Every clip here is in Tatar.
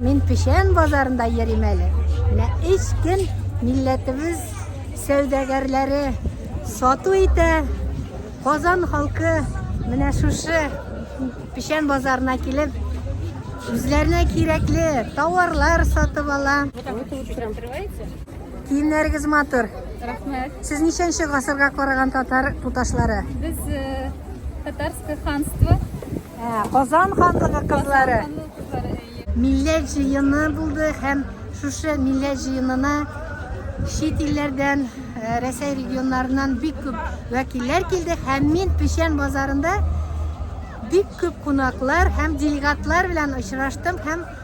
Мин Печән базарында йөрим әле. Менә өч көн милләтебез сәүдәгәрләре сату итә. Казан халкы менә шушы Печән базарына килеп, үзләренә кирәкле товарлар сатып ала. Киемнәрегез матур. Рәхмәт. Сез ничәнче гасырга караган татар туташлары? Без э, татарское ханство Ә, Казан ханлыгы кызлары. Милләт җыены булды һәм шушы милләт җыенына чит илләрдән, э, Рәсәй регионнарыннан бик күп вәкилләр килде һәм мин Печән базарында бик күп кунаклар һәм делегатлар белән очраштым һәм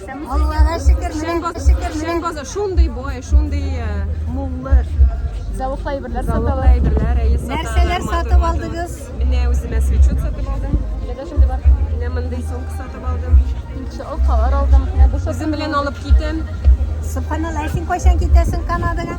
Аллага шөкер, шөкер, шөкер. Шөкер базар шундый бай, шундый э, муллы. Зәвыклы әйберләр саталар. Зәвыклы әйберләр, әйе, саталар. Нәрсәләр сатып алдыгыз? Менә үземә свечут сатып алдым. Менә шундый бар. Менә мондый сумка сатып алдым. Инше алкалар алдым. Менә бу Үзем белән алып китәм. Субханаллах, син кайчан китәсең Канадага?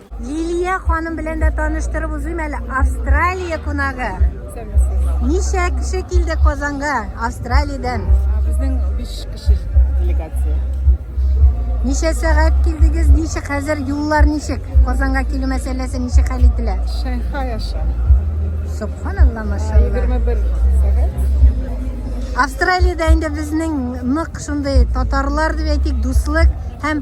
Лилия ханым белән дә таныштырып узыйм әле. Австралия кунагы. Ничә кеше килде Казанга Австралиядән? Безнең 5 кеше делегация. Ничә сәгать килдегез? Ничек хәзер юллар ничек? Казанга килү мәсьәләсе ничек хәл ителә? Шанхай аша. Субханалла машалла. 21 сәгать. Австралиядә инде безнең нык шундый татарлар дип әйтик, дуслык һәм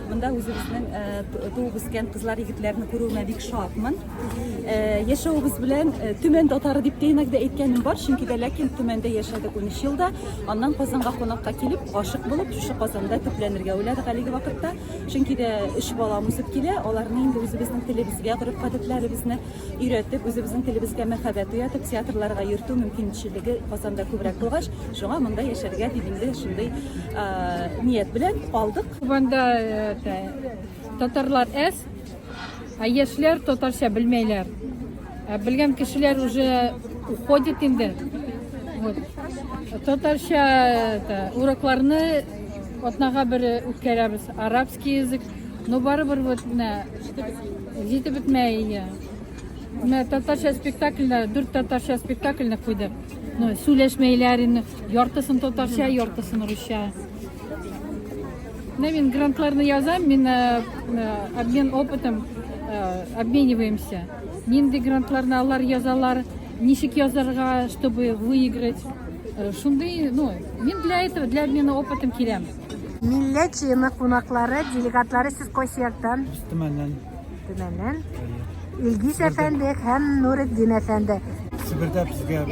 Монда үзебезнең э, туып үскән кызлар егетләрне күрүемә бик шатмын. Э, яшәвебез белән э, Төмән татары дип тәйнәк дә әйткәнем бар, чөнки дә ләкин Төмәндә яшәдек 13 елда. Аннан Казанга кунакка килеп, гашык булып, шушы Казанда төпләнергә уйладык әлеге вакытта. Чөнки дә өч балам үсеп килә, аларны инде үзебезнең телебезгә, гореф-гадәтләребезне өйрәтеп, үзебезнең телебезгә мәхәббәт уятып, театрларга йөртү мөмкинчелеге Казанда күбрәк булгач, шуңа монда яшәргә дип инде шундый ният белән калдык. Кубанда это, татарлар әз, а яшьләр татарча белмәйләр. Ә белгән кешеләр уже уходит инде. Вот. Татарча это, урокларны атнага бер үткәрәбез. Арабский язык, но барыбер вот менә җитеп бетмәй. иә. Менә татарча спектакльдә, дүрт татарча спектакльне куйдык. Ну, сүләшмәйләр инде, яртысын татарча, яртысын русча. Менә мин грантларны язам, мин э, э, обмен опытом э, обмениваемся. Нинди грантларны алар язалар, ничек язарга, чтобы выиграть. Шундый, ну, мин для этого, для обмена опытом киләм. Милләт җыены кунаклары, делегатлары сез кайсы яктан? Төмәннән. Төмәннән. Илгиз әфәнде һәм Нуретдин әфәнде. Себердә безгә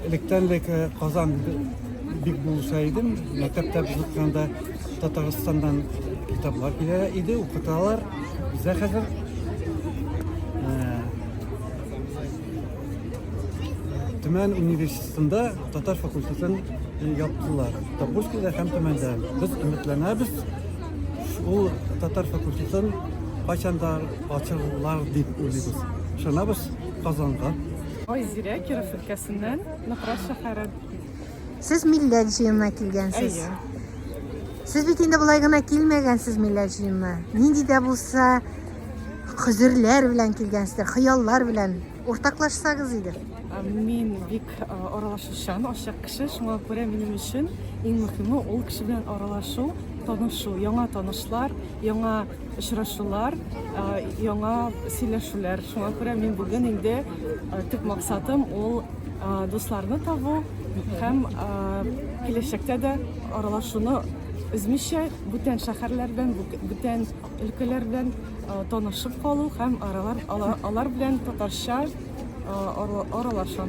Электән дә Казан бик булса идем, мәктәптә укыганда Татарстаннан китаплар килә иде, укыталар. Бездә хәзер Төмән университетында татар факультетын яптылар. Тапушкида һәм Төмәндә. Без өметләнәбез, ул татар факультетын кайчанда ачылар дип уйлыйбыз. Шынабыз Казанга. Айзирә Киров өлкәсеннән Ныкрат шәһәре. Сез милләт җыенына килгәнсез. Әйе. Сез бит инде болай гына килмәгәнсез милләт җыенына. Нинди дә булса хозерләр белән килгәнсездер, хыяллар белән уртаклашсагыз иде. Мин бик аралашучан, ачык кеше, шуңа күрә минем өчен иң мөһиме ул кеше белән аралашу, танышу, яңа танышлар, яңа очрашулар, яңа сөйләшүләр. Шуңа күрә мин бүген инде төп максатым ул дусларны табу һәм киләчәктә дә аралашуны өзмичә бүтән шәһәрләрдән, бүтән өлкәләрдән танышып калу һәм аралар алар белән татарча аралашу.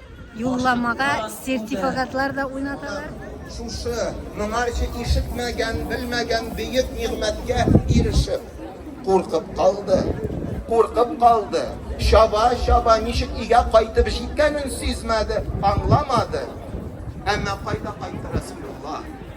Юлламага сертификатлар да уйнаталар. Шушы моңарчы ишетмәгән, белмәгән бөек нигъмәткә ирешеп, куркып калды. Куркып калды. Чаба, чаба, ничек өйгә кайтып җиткәнен сизмәде, аңламады. Әмма кайда кайтты Расулулла?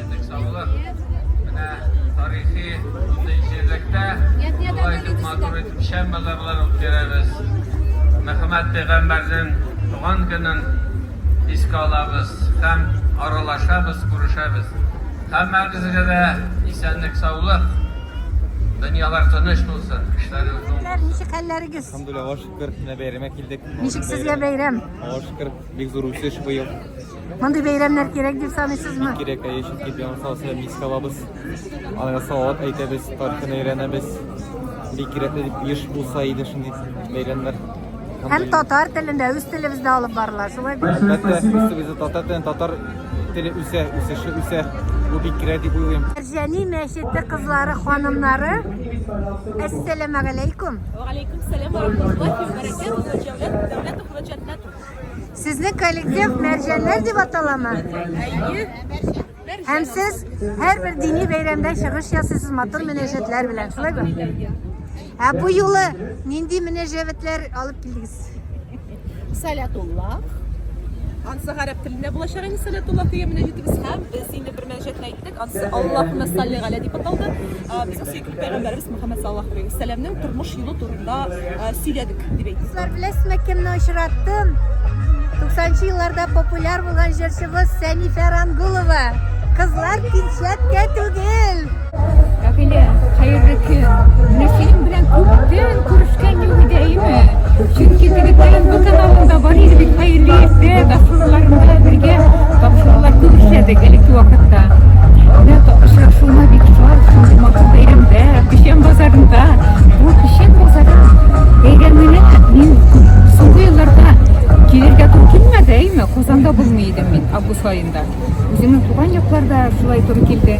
Бик саулык. Менә тарихи шундый җирлектә шулай итеп матур итеп шәм базарлар үткәрәбез. Мөхәммәд пәйгамбәрнең туган көнен искә алабыз һәм аралашабыз, күрешәбез. Һәммәгезгә дә исәнлек, саулык. Дөньялар тыныч булсын, эшләрегез уң булсын. Ничек хәлләрегез? Алхамдулилла, Аллаһ шөкер, менә бәйрәмгә килдек. Ничек сезгә бәйрәм? Аллаһ шөкер, бик зур үсеш быел. Мондый бәйрәмнәр кирәк дип саныйсызмы? Кирәк, әйе, чөнки без аны сау сәламәт искә алабыз. Аларга салават әйтәбез, тарихын өйрәнәбез. Бик кирәкле дип еш булса иде шундый бәйрәмнәр. Һәм татар телендә, үз телебездә алып барыла, шулай бит? Әлбәттә, үз телебездә татар телен, татар теле үсә, үсеше үсә. Бу бик кирәк дип уйлыйм. Җәни мәчете кызлары, ханымнары, әссәләмәгаләйкүм. Вәгаләйкүм сәлам ва рахматуллаһи ва бәракәтүһү, җәүдәт дәүләтов ва җәннәтү. Сезнең коллектив мәрҗәннәр дип аталамы? Һәм сез һәрбер дини бәйрәмдә чыгыш ясыйсыз матур мөнәҗәтләр белән, шулаймы? Ә бу юлы нинди мөнәҗәтләр алып килдегез? Салятулла. Ансы гарәп телендә булачак инде Салятулла дигән мөнәҗәтебез һәм без инде бер мөнәҗәтне әйттек. Кассасы Аллаһуммә салли галә дип аталды. Безнең сөекле пәйгамбәребез Мөхәммәд саллаллаһу алейһи вә сәлләмнең тормыш юлы турында сөйләдек дип әйтте. Дуслар, беләсезме, кемне очраттым? 90 нчы елларда популяр булган җырчыбыз Сәнифә Рангулова. Кызлар пинчәткә түгел. Кафеля, хәерле көн. Менә синең белән күптән күрешкән юк иде, әйеме? Чөнки егетләрем бу каналында бар иде бит Каилиевдә, Дахруларында бергә тапшырулар күп эшләдек элекке вакытта. Менә очрашуына бик шат, шундый матур бәйрәмдә, Печән базарында. Бу Печән базары бәйрәменә мин соңгы елларда килергә туры килмәде, әйме, Казанда булмый идем мин август аенда. Үземнең туган якларда шулай туры килде.